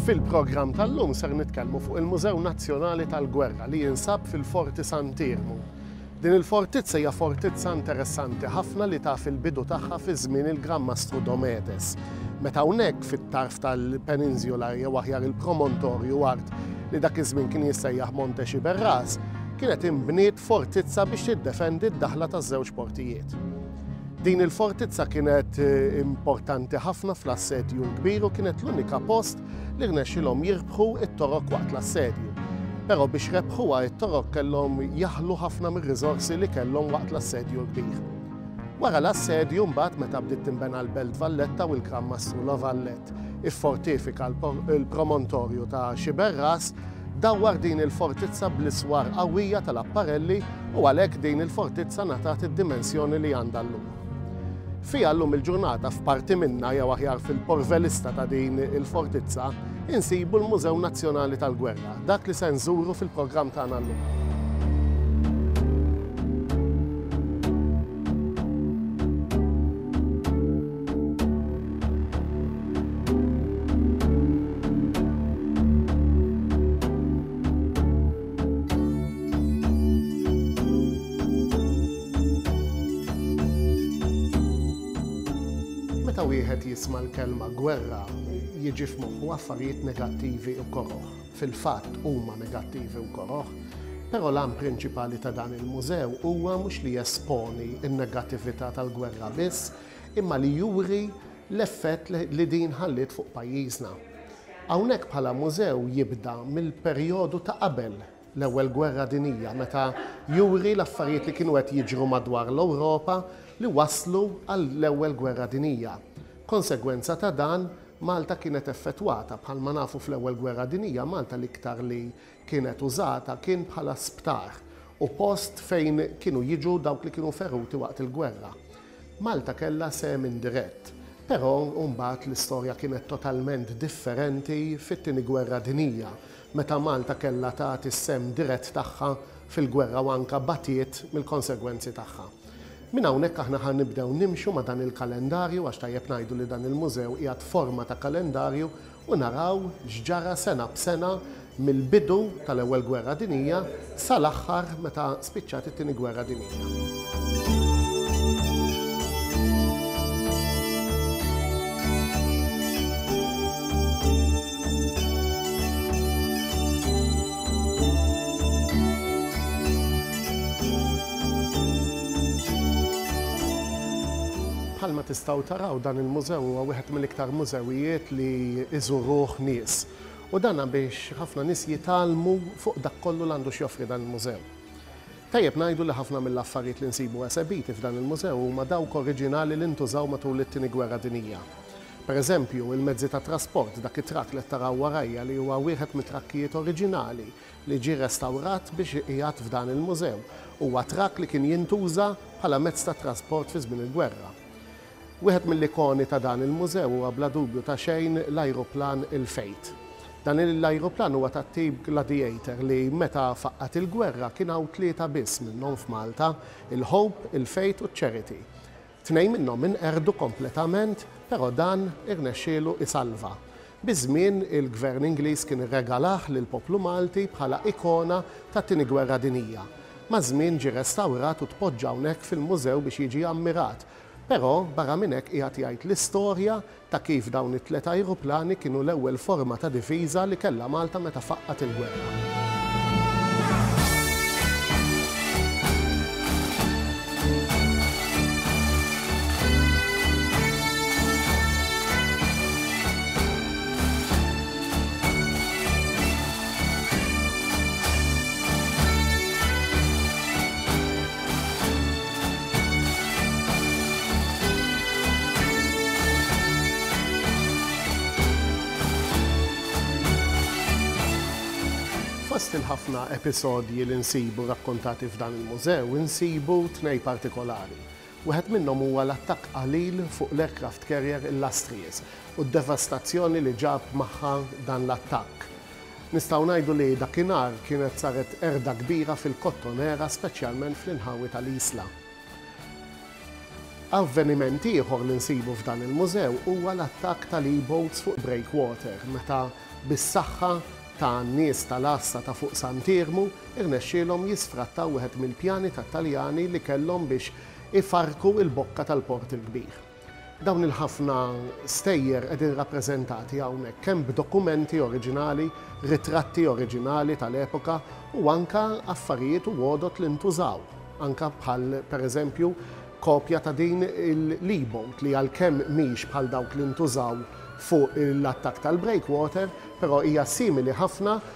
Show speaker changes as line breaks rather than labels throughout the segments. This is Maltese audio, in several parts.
Fil-programm tal-lum ser nitkellmu fuq il-Mużew Nazzjonali tal-Gwerra li jinsab fil-Forti Sant'Iermu. Din il-fortizza hija fortizza interessanti ħafna li taf il-bidu tagħha fi żmien il-Gran Mastru Dometes, meta hawnhekk fit-tarf tal-peninżjola jew aħjar il-promontorju art li dak iż-żmien kien jissejjaħ Monte Xiberras, kienet inbniet fortizza biex tiddefendi d-daħla taż-żewġ portijiet. Din il-fortizza kienet eh, importanti ħafna fl-assedju l-kbir u kienet l-unika post li rnexxilhom jirbħu it-torok waqt l-assedju. Però biex rebħuha it-torok kellhom jaħlu ħafna mir-riżorsi li kellhom waqt l-assedju l-kbir. Wara l-assedju mbagħad meta bdiet tinbena l-Belt Valletta u l-Gran Mastru Lovallet iffortifika l-promontorju ta' Xiberras dawwar din il-fortizza bl-iswar qawwija tal-apparelli u għalhekk din il-fortizza ngħatat id-dimensjoni li għandha llum. Fiha llum il-ġurnata f'parti minnha jew aħjar fil-porvelista ta' din il-fortizza insibu l-Mużew Nazzjonali tal-Gwerra, dak li se nżuru fil-programm tagħna llum. Meta wieħed jisma' l-kelma gwerra, jiġi f'moħħu affarijiet negattivi u koroh. Fil-fatt huma negattivi u koroh, però l-għan prinċipali ta' dan il-mużew huwa mhux li jesponi n-negattività tal-gwerra biss, imma li juri l-effett li din ħalliet fuq pajjiżna. Hawnhekk bħala mużew jibda mill-perjodu ta' qabel l-Ewwel Gwerra Dinjija meta juri l-affarijiet li kienu qed jiġru madwar l-Ewropa li wasslu għall-Ewwel Gwerra Dinjija. Konsegwenza ta' dan, Malta kienet effettwata. Bħalma nafu fl-Ewwel Gwerra Dinjija Malta l-iktar li kienet użata kien bħala sptar u post fejn kienu jiġu dawk li kienu feruti waqt il-gwerra. Malta kellha sehem indirett, però mbagħad l-istorja kienet totalment differenti fit-Tieni Gwerra Dinjija meta Malta kellha tagħti s-sehem dirett tagħha fil-gwerra u anke batiet mill-konsegwenzi tagħha. Minn hawnhekk aħna ħa nibdew nimxu ma' dan il-kalendarju għax tajjeb ngħidu li dan il-mużew qiegħed forma ta' kalendarju u naraw x'ġara sena b'sena mill-bidu tal-Ewwel Gwerra Dinjija sa l-aħħar meta spiċċat it-Tieni Gwerra Dinjija. Bħalma tistgħu taraw dan il-mużew huwa wieħed mill-iktar mużewijiet li jżuruh nies u dan biex ħafna nies jitgħallmu fuq dak kollu l-għandu x'joffri dan il-mużew. Tajjeb ngħidu li ħafna mill-affarijiet li nsibu esebiti f'dan il-mużew huma dawk oriġinali li ntużaw matul it-Tieni Gwerra Dinija. Per eżempju, il-mezzi ta' trasport, dak it-trakk li qed taraw warajja li huwa wieħed mit-trakkijiet oriġinali li ġie restawrat biex iqiegħed f'dan il-mużew, huwa trakk li kien jintuża bħala mezz ta' trasport fi żmien il-gwerra. Wieħed mill-ikoni ta' dan il-mużew huwa bla dubju ta' xejn l-ajruplan il-Fate. Dan l-ajruplan huwa tat-tip Gladiator li meta faqqgħet il-gwerra kien hawn tlieta biss minnhom f'Malta, il-Hope, il-Fate u ċ-Charity. Tnejn minnhom inqerdu kompletament però dan irnexxielu isalva. Biż-żmien il-Gvern Ingliż kien irregalah lill-poplu Malti bħala ikona tat-Tieni Gwerra Dinjija. Maż-żmien ġie restawrat u tpoġġa hawnhekk fil-mużew biex jiġi ammirat Però, barra minn hekk qiegħed jgħid l-istorja ta' kif dawn it-tliet ajruplani kienu l-ewwel forma ta' difiża li kellha Malta meta faqqgħet il-gwerra. Fost il-ħafna episodji li nsibu rakkontati f'dan il-mużew insibu tnej partikolari. Wieħed minnhom huwa l-attakk qalil fuq l-aircraft carrier Illustrious u d-devastazzjoni li ġab magħha dan l-attakk. Nistgħu ngħidu li dakinhar kienet saret qerda kbira fil-Kottonera speċjalment fl-inħawi tal-Isla. Avveniment ieħor li nsibu f'dan il-mużew huwa l-attakk tal-e-boats fuq Breakwater meta bis-saħħa ta' nies tal-għassa ta' fuq Sant'Iermu rnexxielhom jisfrattaw wieħed mill-pjani tat-Taljani li kellhom biex ifarrku l-bokka tal-Port il-Kbir. Dawn il-ħafna stejjer qegħdin rappreżentati hawnhekk kemm b'dokumenti oriġinali, ritratti oriġinali tal-epoka u anke affarijiet u għodod li ntużaw, anke bħal pereżempju kopja ta' din il-libot li għalkemm mhix bħal dawk li ntużaw fuq l-attakk tal-breakwater, però hija simili ħafna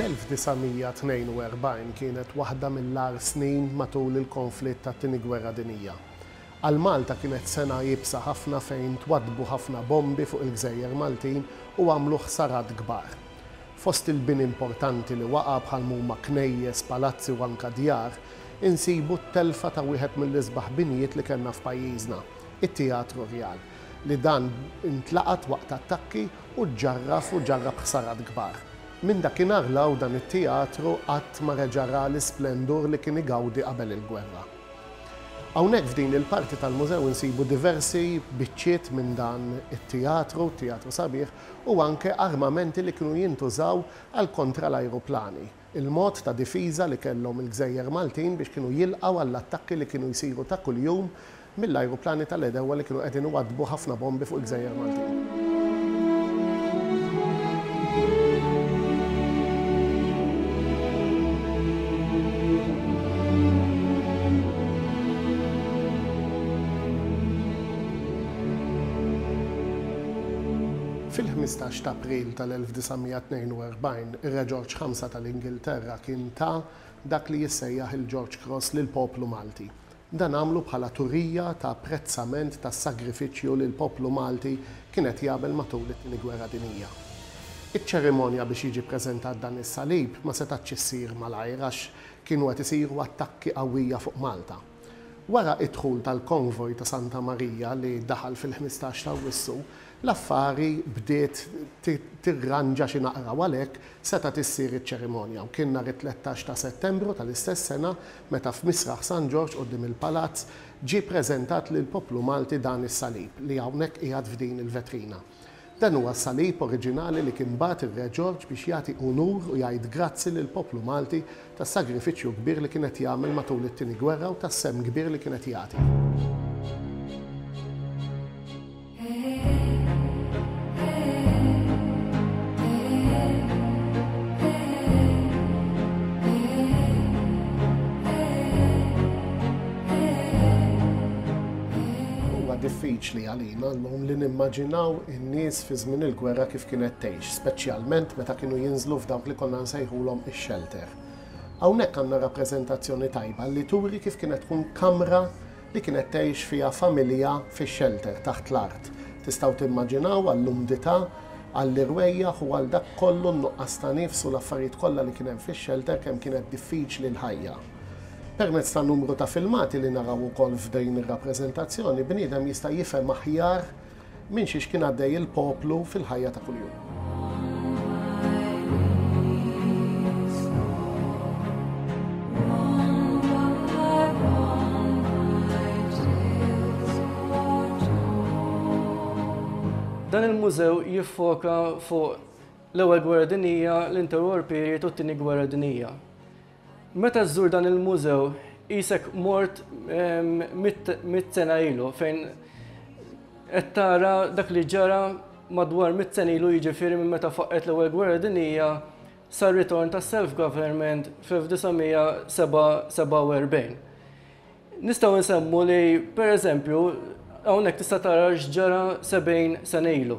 L-1942 kienet waħda mill-agħar snin matul il-konflitt tat-Tieni Gwerra Dinjija. Għal Malta kienet sena iebsa ħafna fejn twaddbu ħafna bombi fuq il-gżejjer Maltin u għamlu ħsarat kbar. Fost il-bini importanti li waqa' bħalma huma knejjes, palazzi u anka djar, insibu t-telfa ta' wieħed mill-isbaħ binjiet li kellna f'pajjiżna, it-Teatru Rjal, li dan intlaqat waqt attakki Hu ġġarraf u ġarrab ħsarat kbar. Minn dakinhar 'l hawn dan it-teatru qatt ma reġa' ra l-isplendur li kien igawdi qabel il-gwerra. Hawnhekk f'din il-parti tal-mużew insibu diversi biċċiet minn dan it-teatru, teatru sabiħ, u anke armamenti li kienu jintużaw għall-kontra l-ajruplani. il-mod ta' difiża li kellhom il-gżejjer Maltin biex kienu jilqgħu għall-attakki li kienu jsiru ta' kuljum mill-ajruplani tal-għedewwa li kienu qegħdin iwaddbu ħafna bombi fuq il-gżejjer Maltin. Fil-15 t'April tal-1942, Ir-Re Ġorġ Ħamsa tal-Ingilterra kien ta dak li jissejjaħ il-George Cross lill-poplu Malti. Dan għamlu bħala turija ta' apprezzament tas-sagrifiċċju li l-poplu Malti kien qed jagħmel matul it-Tieni Gwerra Dinjija. Iċ-ċerimonja biex jiġi ppreżentat dan is-salib ma setgħatx issir malajr għax kienu qed isiru attakki qawwija fuq Malta. Wara id-dħul tal-konvoj ta' Santa Marija li daħal fil-ħmistax ta' Awwissu, l-affari bdiet tirranġa xi naqra u għalhekk setgħet issir iċ-ċerimonja u kien nhar it-tlettax ta' Settembru tal-istess sena meta f'Misraħ San Ġorġ quddiem il-Palazz ġie preżentat lill-poplu Malti dan is-salib li hawnhekk qiegħed f'din il-vetrina. Dan huwa s-salib oriġinali li kien bagħat ir-Re Ġorġ biex jagħti unur u jgħid grazzi lill-poplu Malti tas-sagrifiċċju kbir li kien qed jagħmel matul it-Tieni Gwerra u tas-sehem kbir li kien qed jagħti. Għalina llum li nimmaġinaw in-nies fi żmien il-gwerra kif kienet tgħix, speċjalment meta kienu jinżlu f'dawk li konna nsejħulhom ix-shelter. Hawnhekk għandna rappreżentazzjoni tajba li turi kif kienet tkun kamra li kienet tgħix fiha familja fix-shelter taħt l-art. Tistgħu timmaġinaw għall-umdità, għall-irwejjaħ u għal dak kollu n-nuqqas ta' nifs u l-affarijiet kollha li kien hemm fix-shelter kemm kienet diffiċli l-ħajja. Permezz ta' numru ta' filmati li naraw ukoll f'dejn ir-rappreżentazzjoni, bniedem jista' jifhem aħjar minn xiex kien għaddej il-poplu fil-ħajja ta' kuljum.
Dan il-mużew jiffoka fuq l-Ewwel Gwerra Dinjija, l-Interwar Period u t-Tieni Gwerra Dinjija. Meta żżur dan il-mużew qisek mort mitt sena ilu fejn qed tara dak li ġara madwar mitt sena ilu jiġifieri minn meta faqqgħet l-Ewwel Gwerra Dinjija sar-ritorn tas-self-government fl-1947. Nistgħu nsemmu li pereżempju hawnhekk tista' tara x'ġara 70 sena ilu.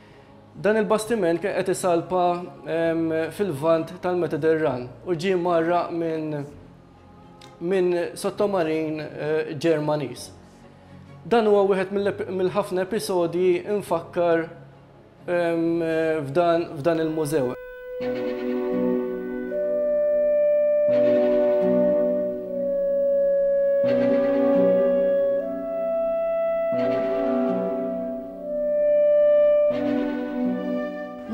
Dan il-bastiment kien qed isalpa fil-Lvant tal-Mediterran u ġie mgħarraq minn minn sottomarin eh, Ġermaniż. Dan huwa wieħed mill-ħafna episodji infakkar f'dan il-mużew.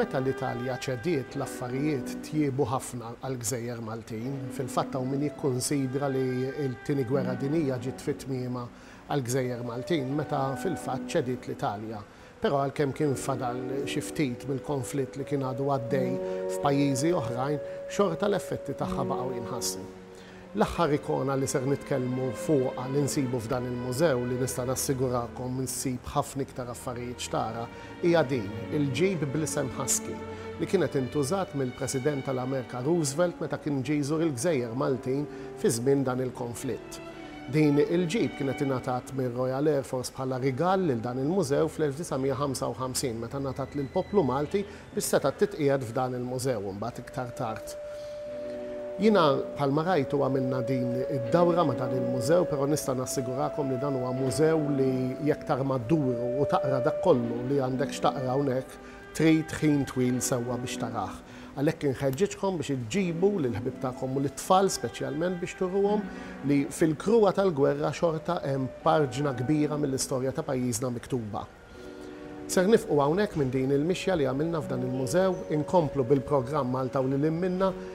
Meta l-Italja ċediet, l-affarijiet tjiebu ħafna għall-gżejjer Maltin. Fil-fatt hawn min jikkunsidra li t-Tieni Gwerra Dinjija ġiet fi tmiemha għall-gżejjer Maltin meta fil-fatt ċediet l-Italja. Però għalkemm kien fadal xi ftit mill-konflitt li kien għadu għaddej f'pajjiżi oħrajn, xorta l-effetti tagħha baqgħu jinħassu. L-aħħar ikona li ser nitkellmu fuqha li nsibu f'dan il-mużew, li nista' nassigurakom ssib ħafna iktar affarijiet x'tara, hija din, il-ġib bl-isem Husky, li kienet intużat mill-President tal-Amerika Roosevelt meta kien ġie jżur il-gżejjer Maltin fi żmien dan il-konflitt. Din il-ġip kienet ingħatat mir-Royal Air Force bħala rigal lil dan il-mużew fl-1955 meta ngħatat lill-poplu Malti biex setgħet titqiegħed f'dan il-mużew imbagħad iktar tard. Jiena bħalma rajtu għamilna din id-dawra ma' dan il-mużew però nista' nassigurakom li dan huwa mużew li jekk tarma dduru u taqra dak kollu li għandek x'taqra hawnhekk Trid ħin twil sewwa biex tarah. Għalhekk inħeġġiġkom biex iġġibu lill-ħbieb tagħkom u lit-tfal speċjalment biex turuhom li fil-kruha tal-gwerra xorta hemm parġna kbira mill-istorja ta' pajjiżna miktuba. Ser nifqu hawnhekk minn din il-mixja li għamilna f'dan il-mużew, inkomplu bil-programm Malta u lil hinn minnha,